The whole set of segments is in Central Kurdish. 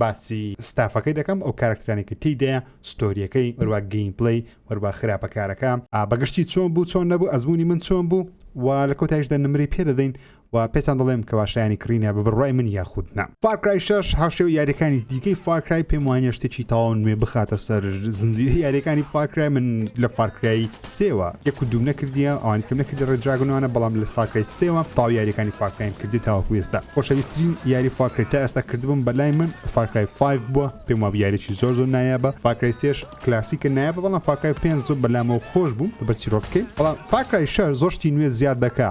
باسی ستافەکەی دەکەم ئەو کارەکترانی کە تیدایە ستۆریەکەی هەروا گەیم پلەی هەروا خراپە کارەکە بەگشتی چۆن بوو چۆن نەبوو ئەزمونی من چۆن بوو و لە کۆتایشدا نمری پێ دەدەین و پێتان دەڵێم کەوا شایانی کڕینە بە بڕوای من یاخود نا فارکرای شش هاوشێوە یاریەکانی دیکەی فارکرای پێم وانە شتێکی تاو نوێ بخاتە سەر زنجیرە یاریەکانی فارکرای من لە فارکرای سێوە یەک و دووم نەکردیە ئەوانی کەم نەکردیە ڕێد دراگۆن وانە بەڵام لە فار کرای سێوە تەواو یاریەکانی فار کرایم کردیە تاوەکو ئێستا خۆشەویسترین یاری فار کرای تا ئێستا کردبووم بەلای من فار کرای فایڤ بووە پێم وابوو یاریەکی زۆر زۆر نایابە فار کرای سێش کلاسیکە نایابە بەڵام فار کرای پێنج زۆر بەلامەوە خۆش بوو لەبەر چیرۆکەکەی بەڵام فار کرای شەش زۆر شتی نوێ زیاد دەکا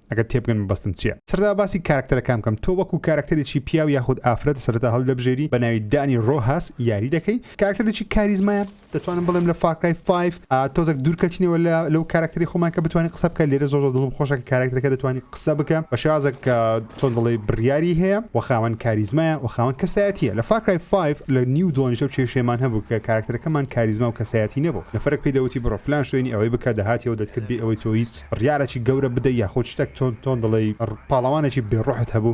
ئەگەر تێبگەن مەبەستم چیە. سەرەتا باسی کارەکتەرەکان بکەم تۆ وەکو کارەکتەرێکی پیاو یاخود ئافرەت سەرەتا هەڵیدەبژێری بە ناوی دانی ڕۆهاس یاری دەکەی کارەکتەرێکی کاریزمایە دەتوانم بڵێم لە فار کرای فایڤ تۆزەک دوورکەتینەوە لە لەو کارەکتەری خۆمان کە بتوانین قسە بکە لێرە زۆر زۆر دڵم خۆشە کە کارەکتەرەکە دەتوانانی قسە بکە بە شێوازێک کە چۆن دەڵێی بڕیاری هەیە و خاوەن کاریزمایە و خاوەن کەسایەتیە لە فار کرای فایڤ لە نیو دۆنیش ئەو کێشەیەمان هەبوو کە کارەکتەرەکەمان کاریزما و کەسایەتی نەبوو نەفەرێک پێی دەوتی بڕۆ فلان شوێنی ئەوەی بکە دەهاتی و دەتکرد بێ ئەوەی تۆ هیچ بڕیارەکی گەورە بدەی یاخود شتەک تۆن تۆن دڵێی پاڵەوانێکی بێ ڕۆحت هەبوو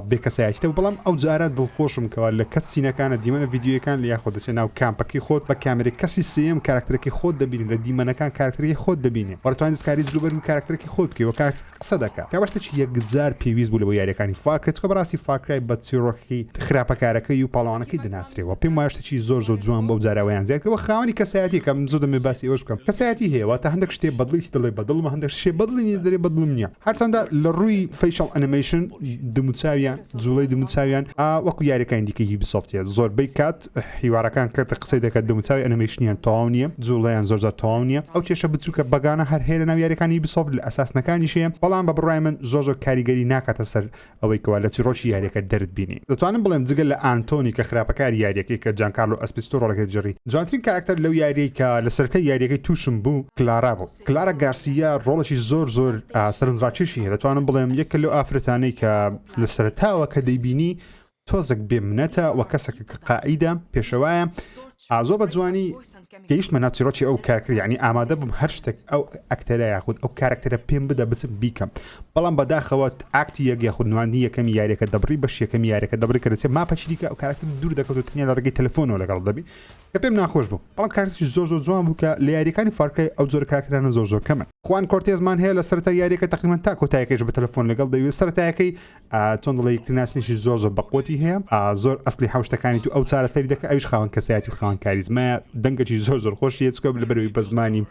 بێ کەسایەتی تەبوو بەڵام ئەو جارە دڵخۆشم کەوا لە کەت سینەکانە دیمەنە ڤیدیۆیەکان لە یاخۆ دەچێ ناو کامپەکەی خۆت بە کامێرەی کەسی سێیەم کاراکتەرەکەی خۆت دەبینی لە دیمەنەکان کاراکتەرەکەی خۆت دەبینێ وە دەتوانی دەستکاری جلوبەرگی کاراکتەرەکەی خۆت بکەی وە کاراکتەرەکە قسە دەکا کەوا شتێکی یەکجار پێویست بوو لە بۆ یاریەکانی فار کرای چکە بەڕاستی فار کرای بە چیڕۆکی خراپەکارەکەی و پاڵەوانەکەی دەناسرێ وە پێم وایە چی زۆر زۆر جوان بوو ئەو جارە ئەویان زیاد کرد وە خاوەنی کەسایەتیەکە من زۆر دەمەوێ باسی ئەوەش بکەم کەسایەتی هەیە واتە هەندێک شتێ بە دڵیشت دەڵێ بە دڵمە هەندێک شتێ بە دڵی نیت دەرێ بە دڵم نییە هەرچەندە لە ڕووی فەیشەڵ ئەنیمەیشن دم و چاویان جووڵەی دم و چاویان ئا وەکو یاریەکانی دیکەی یوبیسۆفت هەیە زۆربەی کات حیوارەکان کەرتە قسەی دەکات دم و چاوی ئەنیمەیشنیان تەواو نییە جووڵەیان زۆر جار تەواو نییە ئەو کێشە بچووکە بەگانە هەر هەیە لەناو یاریەکانی یوبیسۆفت لە ئەساسنەکانیش هەیە بەڵام بە بڕای من زۆر زۆر کاریگەری ناکاتە سەر ئەوەی کەوا لە چیڕۆکی یاریەکە دەرت بینی. دەتوانم بڵێم جگە لە ئانتۆنی کە خراپەکاری یاریەکەی کە جانکارلۆ ئەسپیستۆ ڕۆڵەکەی دەرجڕی جوانترین کاراکتەر لەو یاریەی کە لە سەرەتای یاریەکەی توشم بوو کلارا بوو کلارا گارسیا ڕۆڵەکی زۆر زۆر سەرنجڕاکێشی هەیە دەتوانم بڵێم یەکە لەو ئافرەتانەی کە لە سەرەتاوە کە دەیبینی تۆزەک بێ منەتە وە کەسەکە کە قائیدە پێشەوایە زۆر بە جوانی گەیشتمە ناو چیڕۆکی ئەو کارکتەر یعنی ئامادە بووم هەر شتێک ئەو ئەکتەرە یاخود ئەو کارکتەرە پێم بدە بچم بیکەم بەڵام بەداخەوە ئاکتی یەک یاخود نواندنی یەکەمی یاریەکە دەبڕی بەش یەکەمی یاریەکە دەبڕی کە دەچێت ماپەچی دیکە ئەو کارکتەر دوور دەکەوت و تەنیا لە ڕێگەی تەلەفۆنەوە لەگەڵ دەبی کە پێم ناخۆش بوو بەڵام کارکتەری زۆر زۆر جوان بوو کە لە یاریەکانی فارکای ئەو جۆر کارکتەرانە زۆر زۆر کەمن خوان کۆرتێزمان هەیە لە سەرتا یاریەکە تقریبان تا کۆتایەکەش بە تەلەفۆن لەگەڵ دەوێت سەرتایەکەی چۆن دڵی یەکتر ناسنیشی زۆر زۆر بەقوتی هەیە زۆر ئەسلی حوشتەکانی تو ئەو چارەسەری دەکە ئەوش خاوەن کەسایەتی و خاوەن کاریزمایە دەنگەی زۆر زۆر خۆش یەچکە لە بەروی بە زمانی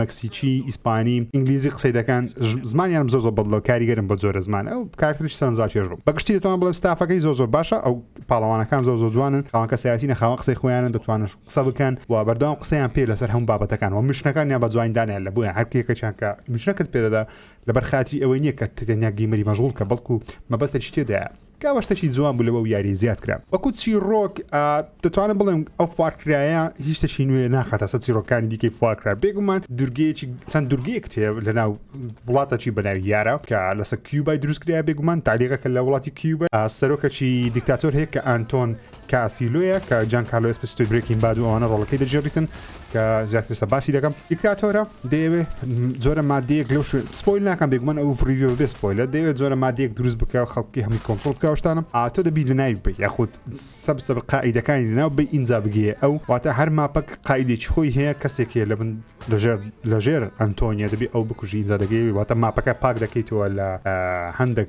مەکسیچی ئیسپانی ئینگلیزی قسەی دەکەن زمانیان زۆر زۆر بەدڵەوە کاریگەرم بە زۆرە زمان ئەو کارتریش سەرنجاکێش بوو بە گشتی دەتوان بڵێم ستافەکەی زۆر زۆر باشە ئەو پاڵەوانەکان زۆر زۆر جوانن خاوەن کەسایەتی نەخاوە قسەی خۆیانە دەتوانن قسە بکەن و بەردەوام قسەیان پێ لەسەر هەم بابەتەکان و مشنەکانیان بە جوانی دانیان لە بۆیان هەرکێکەکان کە مشنەکەت پێدەدا لەبەر خاتری ئەوەی نیە کە تەنیا گەیمەری مەژغوڵ کە بەڵکو مەبەستت شتێدایە کە ئەوە شتەکی جوان بوو لەوە و یاریە زیاد کرا وەکو چیڕۆک دەتوانم بڵێم ئەو فارکرایە هیچ تەشی نوێ ناخاتە سە چیڕۆکانی دیکەی فارکرا بێگومان دورگەیەکی چەند دورگەیەک تێ لە ناو وڵاتەکی بەناوی یارە کە لەسە کیوبای دروستکریا بێگومان تالیغەکە لە وڵاتی کیوبە سەرۆکەکی دیکتاتۆر هەیە کە ئەنتۆن کاستیلۆیە کە جان کارلۆ ئێسپسیتۆی برێکین باد و ئەوانە ڕۆڵەکەی دەجێڕیتن کە زیاتر سە باسی دەکەم دیکتاتۆرە دەیەوێت جۆرە مادەیەک لەو شوێن سپۆیل ناکەم بێگومان ئەو فریویۆ بێ سپۆیلە دەیەوێت جۆرە مادەیەک دروست بکە و خەڵکی هەمووی کۆنتترۆل بکەشتانم ئاتۆ دەبی لە ناوی بە یاخود سەب سەب قاعیدەکانی لەناو بە ئینجا بگێ ئەو واتە هەر ماپەک قاعدێکی خۆی هەیە کەسێک هەیە لە بن لەژێر لەژێر ئەنتۆنیە دەبی ئەو بکوژی ئینجا دەگەی واتە ماپەکە پاک دەکەیتەوە لە هەندێک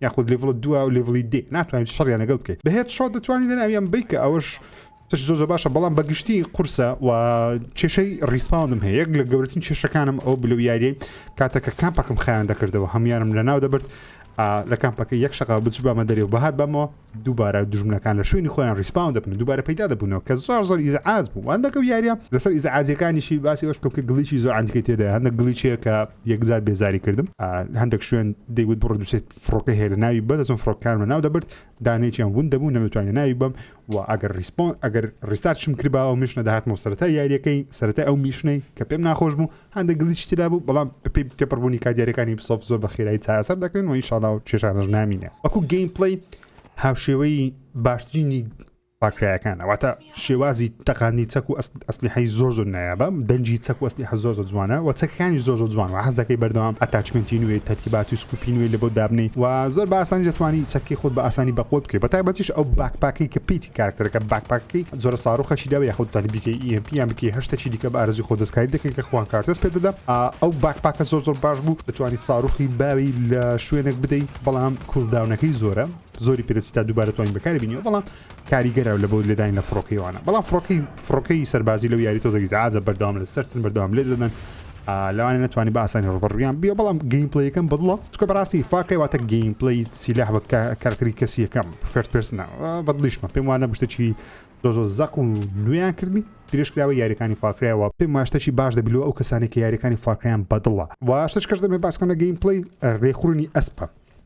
یاخود لیڤڵ دو و لیڤڵی دێ ناتوانین شەڕیان لەگەڵ بکەیت بەهێت شۆ دەتوانین لە ناویان بیت کە ئەوەش تش زۆ زۆ باشە بەڵام بەگشتی قورسە و کێشەی ڕیسپاوندم هەیە یەک لە گەورەترین کێشەکانم ئەو بلو یاریەی کاتەکە کامپەکەم خیان دەکردەوە هەمویانم لە ناو دەبرد لە کامپەکە یەک شقا بچ بامە دەرێ و بەهات بەمەوە دووبارە دژمنەکان لە شوێنی خۆیان ریسپاون دەبن و دووبارە پەیدا دەبوونەوە کە زۆر زۆر ئیزعاج بوو هەندێک و یاریە لەسەر ئیزعاجەکانیشی باسی ئەوش کەم کە گلیچی زۆر ئەندکی تێدا هەندە گلیچەیە کە یەکجار بێزاری کردم هەندێک شوێن دەیوت بڕ دوسێت فڕۆکە هەیە لە ناوی بەدەچم فڕۆکانمە ناو دەبرد دانێکیان ون دەبوو نەمتوانانی ناوی بم و ئەگەر ریسپۆن ئەگەر ریستارچم کردباوە میشنە داهاتمەوە سەرەتا یاریەکەی سەرەتا ئەو میشنەی کە پێم ناخۆش بوو هەندێک گلیچی تێدا بوو بەڵام بەپێی تێپەڕبوونی کات دیارەکانی بسۆف زۆر بە خێرایی چارەسەر دەکرێن و ئینشاڵا و کێشانەش نامینێ وەکو گەیم پلەی هاوشێوەی باشترینی پاکرایەکانە واتە شێوازی تەقانی چەک و ئەسلیحی زۆر زۆر نایابە دەنجی چەک و ئەسلیح زۆر زۆر جوانە و چەکانی زۆر زۆر جوان و حەز دەکەی بەردەوام ئەتاچمنتی نوێ تەرتیبات و سکوپی نوێ لە بۆ دابنی و زۆر باسانی دەتوانی چەکی خۆت بە ئاسانی بەقۆت بکەی بە تایبەتیش ئەو باکپاکی کە پیتی کارکتەرەکە باکپاکی جۆرە ساروخەکی داوە یاخود تەنی بیکەی ئی ئێم پی یان بیکەی هەر شتەکی دیکە بە ئارەزوی خۆت دەستکاری دەکەین کە خوان کارتۆس پێت دەدەم ئەو باکپاکە زۆر زۆر باش بوو دەتوانی ساروخی باوی لە شوێنێک بدەی بەڵام کولداونەکەی زۆرە زۆری پێ دەچی تا دووبارە دەتوانین بەکاری بینیەوە بەڵام کاریگەرە لە بۆ لێدانی لە فڕۆکەیوانە بەڵام فڕۆکەی فڕۆکەی سەربازی لەو یاری تۆزەگی زعازە بەردەوام لە سەرتن بەردەوام لێ دەدەن لەوانەیە نەتوانی بە ئاسانی ڕوبەڕویان بیە بەڵام گەیم پلەیەکەم بەدڵە چکە بەڕاستی فاکەی واتە گەیم پلی سیلاح بە کارکتری کەسی یەکەم فێرت پرسنە بەدڵیشمە پێم وانە بشتەچی زۆ زۆ زەق و نوێیان کردبی درێژکراوە یاریەکانی فاکرایەوە پێم ماشتەچی باش دەبیلو ئەو کەسانی کە یاریەکانی فاکریان بەدڵە واشتش کەش دەمێ باسکەم لە گەیم پلی ڕێخورنی ئەسپە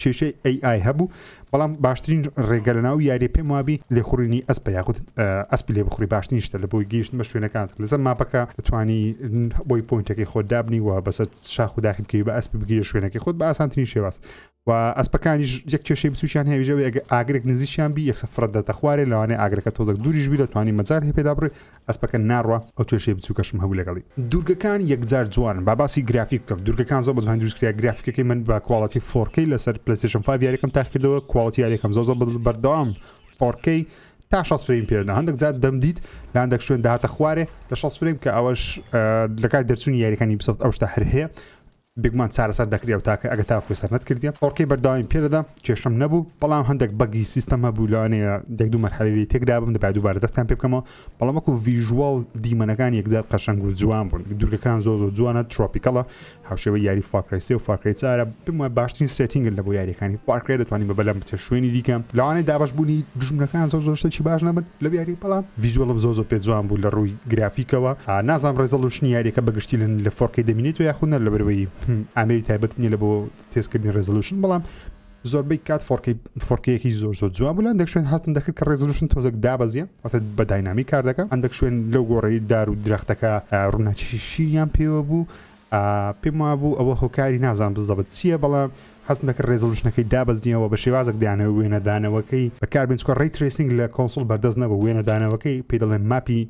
کێشەی ئەی ئای هەبوو بەڵام باشترین ڕێگە لە ناو یاریە پێم وابی لێخوڕینی ئەسپ یاخود ئەسپ لێ بخوری باشترین شتە لە بۆی گەیشت بە شوێنەکان لەسەر ماپەکە توانی بۆی پوینتەکەی خۆ دابنی و بەسەر شاخ و داخی بکەی بە ئەسپ بگیرە شوێنەکەی خۆت بە ئاسانترین شێواز و ئەسپەکانی یەک کێشەی بچوشیان هێژەوە ئەگە ئاگرێک نزیکیان بی یەکسە فرەت دەتە خوارێ لەوانێ ئاگرەکە تۆزەک دووریش بی دەتوانانی مەجار هەیە پێدا بڕێ ئەسپەکە ناڕوا ئەو کێشەی بچوکەشم هەبوو لەگەڵی. دوورگەکان یەکجار جوانن با باسی گرافیک بکەم دوورگەکان زۆر بەجوانی دروست کرا گرافیکەکەی من بە کواڵەتی فۆر کەی لەسەر پلەیستەیشن فایڤ یاریەکەم تاقی کردەوە کواڵەتی یاریەکەم زۆر زۆر بەردەوام فۆر کەی تا شەست فرەیم پێ دەدا هەندێک جار دەمدیت لە هەندێک شوێن دەهاتە خوارێ لە شەست فرەیم کە ئەوەش لە کاتی دەرچوونی یاریەکانی بیسۆفت ئەو شتە هەر هەیە بگمان چارەسەر دەکری ئەو تاکە ئەگە تاوەکو سەر نەتکردیە ئۆڕکەی بەرداویم پێدەدا کێشەم نەبوو بەڵام هەندێک بەگی سیستەم هەبوو لەوانەیە دەک دوو مەرحەلەی تێکدابم دەبا دووبارە دەستیان پێ بکەمەوە بەڵام وەکو ڤیژوەڵ دیمەنەکان یەکجار قەشەنگ و جوان بوون دوورگەکان زۆ زۆ جوانە ترۆپیکەڵە هاوشێوە یاری فاکرسی و فاکری چارە بمە باشترین سێتینگن لە بۆ یاریەکانی فاکرێ دەتوانانی بە بەلەم بچێت شوێنی دیکە لەوانەیە دابش بوونی دژمنەکان زۆ زۆر شتێکی باش نەبن لە یاری بەڵام ڤیژوەڵم زۆ زۆ پێ جوان بوو لە ڕووی گرافیکەوە نازانم ڕێزەڵ و شنی یاریەکە بەگشتی لن لە فۆڕکەی دەمینێتو یاخود نە لەبەرەوەی ئامێری تایبەت نیە لە بۆ تێستکردنی ڕێزلوشن بەڵام زۆربەی کات فۆڕکەی فۆڕکەیەکی زۆر زۆر جوان بوو لە هەندێک شوێن هەستم دەکرد کە ڕێزلوشن تۆزێک دابەزیە واتە بە داینامی کار دەکە هەندێک شوێن لەو گۆڕەی دار و درەختەکە ڕووناچشی شیریان پێوە بوو پێم وابوو ئەوە هۆکاری نازانم بزەبت چییە بەڵام حەزم دەکرد ڕێزۆلوشنەکەی دابەزنیەوە بە شێوازێک دانەوەی وێنەدانەوەکەی بەکاربێن چونکە ڕەی ترەیسینگ لە کۆنسوڵ بەردەست نەبوو وێنەدانەوەکەی پێی دەڵێن ماپی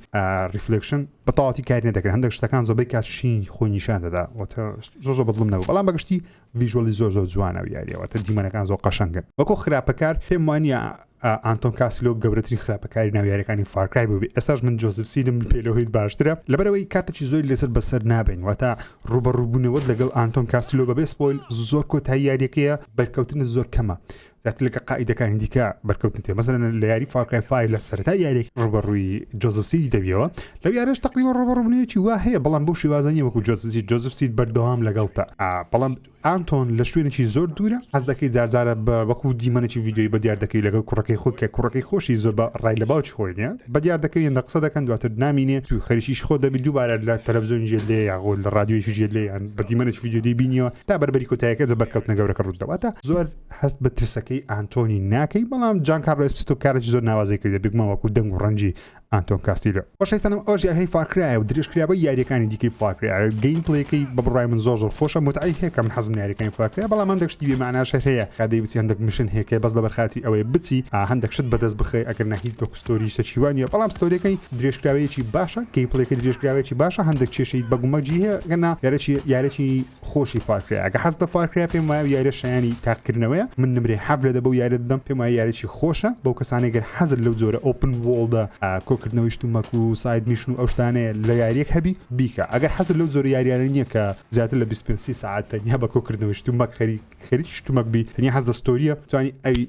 ڕیفلێکشن بە تەواوەتی کاری نەدەکرد هەندێک شتەکان زۆربەی کات شینی خۆی نیشان دەدا واتە زۆر زۆر بەدڵم نەبوو بەڵام بە گشتی ڤژوەلی زۆر زۆر جوانە و یاریەوە تە دیمەنەکان زۆر قەشنگن وەکو خراپەکار پێم وانە ئانتۆن کاسیلۆ گەورەترین خراپەکاری ناویارەکانی فارکرای بووبی ئێساش من جۆزف سیدم پێلەوەیت باشترە لەبەرەوەی کاتێکی زۆر لەسەر بەسەر نابین واتە ڕوبەڕووبوونەوەت لەگەڵ ئانتۆن کاسیلۆ بەبێ سپۆیل زۆر کۆتایی یاریەکەیە بەرکەوتن زۆر کەمە زیاتر لەگە قائیدەکانی دیکە بەرکەوتن تێ مەزن لە یاری فارکای فای لە سەرتا یاریێک ڕوبەڕووی جۆزفسی دەبیەوە لەو یارش تەقیوە ڕوبەڕوونەیەکی وا هەیە بەڵام بۆ شێوازنی وەکو جۆزفسی جۆزفسی بەردەوام لەگەڵتە بەڵام ئانتۆن لە شوێنێکی زۆر دوورە حەز دەکەی جارجارە بە وەکو دیمەنێکی ویددیوی بە دیار دەکەی لەگەڵ کوڕەکەی خۆی کە کوڕەکەی خۆشی زۆر بە ڕای لە باوکی خۆی نیە بە دیار دەکەی لە قسە دەکەن دواتر نامینێ تو خەریکیش خۆ دەبی دووبارە لە تەلەڤزیۆن ژێ لێ یاغۆ لە رادیۆیشی ژێ لێیان بە دیمەنێکی ویددیوی بینیەوە تا بەربەری کۆتایەکە جە بەرکەوتنە گەورەکە ڕوودەواتە زۆر هەست بە ترسەکەی ئانتۆنی ناکەی بەڵام جان کارلۆ ئسپستۆ کارێکی زۆر ناوازەی کردە بگمە وەکو دەنگ و ڕەنجی ئانتۆن کاستیلۆ خۆشەویستانم ئەوش یارهەی فارکرایە و درێژکرابە یاریەکانی دیکەی فارکرایە گەیم پلەکەی بە بڕای من زۆر زۆر خۆشە متعی هەیە کە من حەزم یاریەکانی فارکرای بەڵام هەندێک شتی بێ معناش هەیە کادەی بچی هەندێک مشن هەیە کە بەس لەبەر خاتری ئەوەیە بچی هەندێک شت بەدەست بخەی ئەگەر نە هیچ وەکو ستۆری شتیوانە بەڵام ستۆریەکەی درێژکراوەیەکی باشە گەیم پلەکەی درێژکراوەیەکی باشە هەندێک کێشەی بەگومەجی هەیە گەنا یارەکی یارەکی خۆشی فارکرای ئەگە حەز بە فارکرای پێم وایە یاریە شایانی تاقکردنەوەیە من نمرێ حەف لە دەبە و یارە دەم پێم وایە یاریی خۆشە بەو کەسانێک گەر حەزر لەو جۆرە ئۆپن وۆڵدە کۆکردنەوەیشت و مەک و ساید میشن و ئەوشتانەیە لە یاریەک هەبی بیکە ئەگەر حەزر لەو جۆرە یاریانە نییە کە زیاتر لە 25 ساعت تەنیا بە کۆکردنەوەیشت و مەک خەری خەریکی شتومەک بی تەنیا حەز دەستۆریە توانی ئەوی